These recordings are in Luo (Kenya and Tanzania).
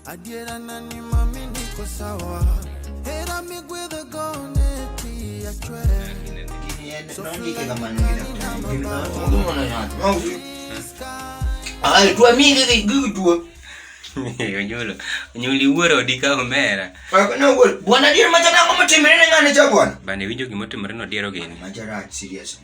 Adiera na ni mami niko sawa Hera migwedhe gone ti achwe Onyuli wuoro odi ka omera. Bwana dier macha nango motimre ne ng'ane cha bwana. Bana iwinjo gima otimre no diero gini. Macha rach seriously.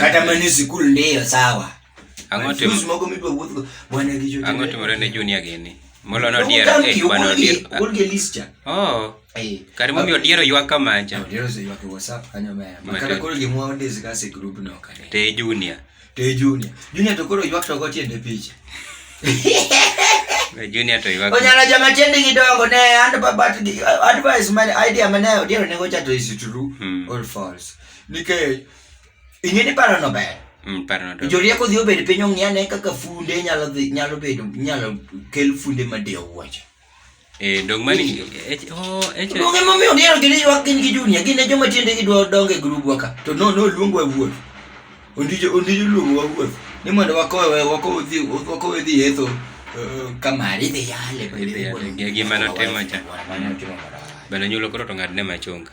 kata mani sikul ndiyo sawa ang'o timore ne junia gini molo no dier e kwano dier oh kare momiyo dier oywa kamanja te junia te junia junia to koro ywak to go tiende picha Junior to iwako. Onyala jama tiende gidongo ne and but advice man idea mane odiero ne gocha to is true hmm. or false. nikech ing'e ni paro no ber Mm, paro no to- jorieko dhi obed piny ong'i ane kaka funde nyalo dhi nyalo bedo nyalo kel funde madewo wuoche Eh, dong mani eh, oh, eh, che- luonge momiyo diero gini ywak gin gi junia gin e joma tiende gi dwa donge e grubwa ka to no no luong wa wuoth ondijo ondijo luong wa wuoth ni mondo wakowe wakowe dhi wakowe dhi yetho eh, kamari dhi yale Idhi yale, gi- gima notimo cha. Mano timo marach. bana nyulo koro to ng'adne machunga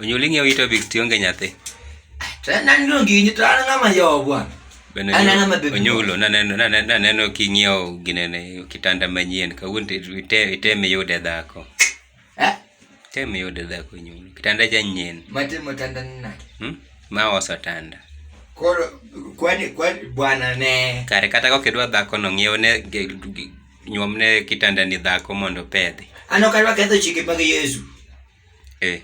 onyulingi witabix tionge nyathi onyulo naneno king'iewo ginene kitanda manyien kawuono iteme yude dhako Eh? Tem yudo dhako nyuol. Kitanda cha nyien. Matimo tanda nina. Hmm? Ma oso tanda. Koro kwani kwani bwana ne. Kare kata kok idwa dhako no ng'iew ne nyuom ne kitanda ni dhako mondo pedhi. Ano kadwa ketho chike mag Yesu. Eh.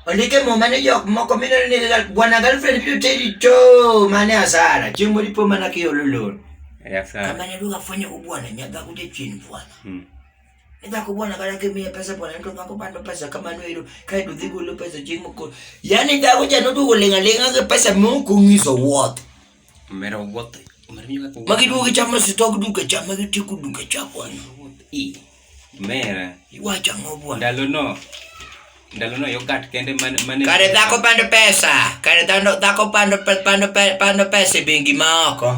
Ondike muma ni jok moko mineno ni bwana girlfriend biro teri to mane asara. Chieng' moro ipo mana kiolo lor. Eh, asara. Kama ne duka fanya ubwana nyadhako jachien bwana. Hmm. Nyako bwana kana kimiya pesa bwana to nyako bando pesa kamano ero kae to dhi golo pesa chieng' moko. Yaani dhako cha noduogo ling'a ling'a gi pesa moko ng'iso wuoth. Mera wuoth. Mera mi kaka. Magi duogo chamo sitok duka cha magi tiku duka cha bwana. I. Mera. Iwacha ngo bwana. Ndalo no. ndalono yogat kende mane mane kare dhako pando pesa kare dhano dhako pando pe- pando pe- pando pesa e bengi ma oko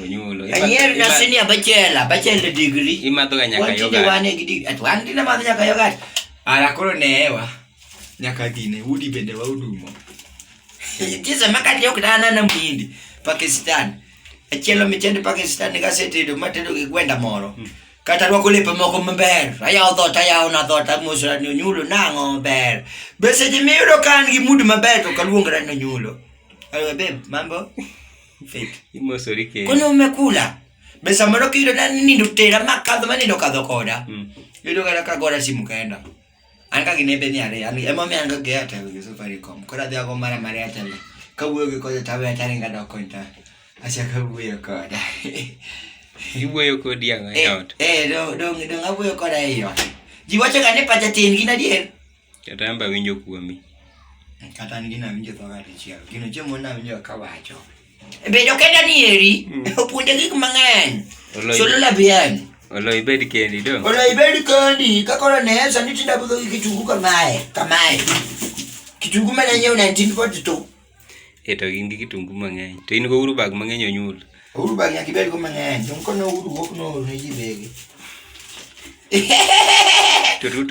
onyulo anyier na senior bachelor bachelor degree imadhoga nyaka Wan tinde yogat wan e gi dig- at wan tinde madho nyaka yogat ara koro neewa nyaka dhine udi bende waudumo tise makati ok danana mhindi pakistan achielo michende pakistan kasetedo matedo gi gwenda moro Kata rwako lepe moko maber, ayawo dhot ayawo na dhot amosra ni onyulo nang'o ber. Be seche miyudo ka an gi mood maber to kaluongra ni onyulo. Ayo babe, mambo? Fit. Imosori kendo. Kwani umekula? Be samoro kiyudo na nindo tera makadho manindo kadho koda. Mm. Yudo kata kagora simu kaenda. an ka gine beni ariyo an ema omiyo an ka geya tawe gi Safaricom koro adhi ago mara mar Airtel kawuoyo gi kode tawe atari ngado kony ta achaka wuoyo koda iwuoyo kodi ang'o e ot eh dong dong dong awuoyo koda e ot ji wacho ga ni pacha tin gin adier kata amba winjo kuomi kata an gina winjo thoga dichiel gino chiemo na winjo kawacho Bedo kenda ni eri mm. opuonja gik mang'eny. Solo la bian. Olo ibed kendi do. Olo ibed kendi kaka olo ne esa ni tinda budho kitungu kamae kamae. Kitungu mana nyiew 1942. Eto gin gi kitungu mang'eny. To in go uru bag mang'eny onyul. Uru bag nyaka ibed go mang'eny. Jomko no uru wok no ne ji bege.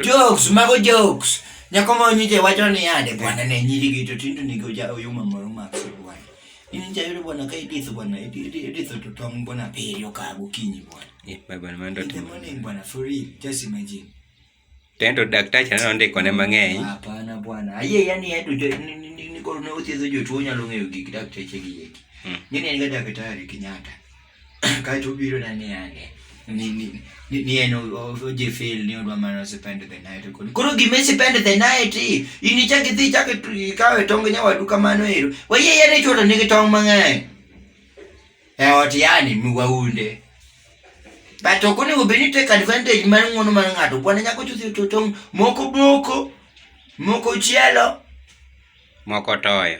jokes mago jokes nyako ma onyiche wacho ni yande bwana ne nyirigi to tindo nigo ja oyuma moro mar bwana in jayudo bwana ka iditho bwana iditho to tong bwana abiriyo ka gokinyi bwana eh, bwana bwana for real just imagine tendo daktacha ne ondiko ne mang'eny hapana bwana ayie yani eto nikoro ne othiedho jotuo nyalo ng'eyo gik dakteche gi eki hmm. ng'eni en ga daktari Kenyatta Kaeto obiro na ni ane ni ni ni ni en o- o- ojefil ni odwa mana spend the night kod koro gima spend the night in ichak idhi ichak itu- ikaw e tong nyawadu kamano ero wayie yare chuoto nigi tong mang'eny e ot yani miwaunde but ok onego bed ni take advantage mar ng'wono mar ng'ato kwana nyako chuthi to tong moko boko moko chielo Moko toyo.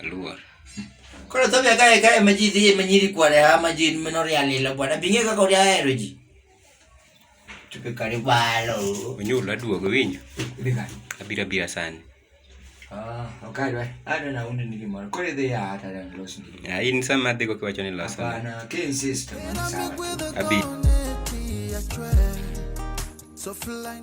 Aluor. Koro to bia kae kae ma ji dhi ma nyiri kware ha ma ji meno ria lilo bwana binge kaka ori ahero ji. Tupe kare balo. Onyulo aduogo winyo. Bika. Abira bira sani. Ah, okay, right. I don't know undi ni gimoro. Kore dhi ya hata na los ni. Ah, in sama adhi go kiwacho ni losa. Bana, ke insist. Abi. So fly.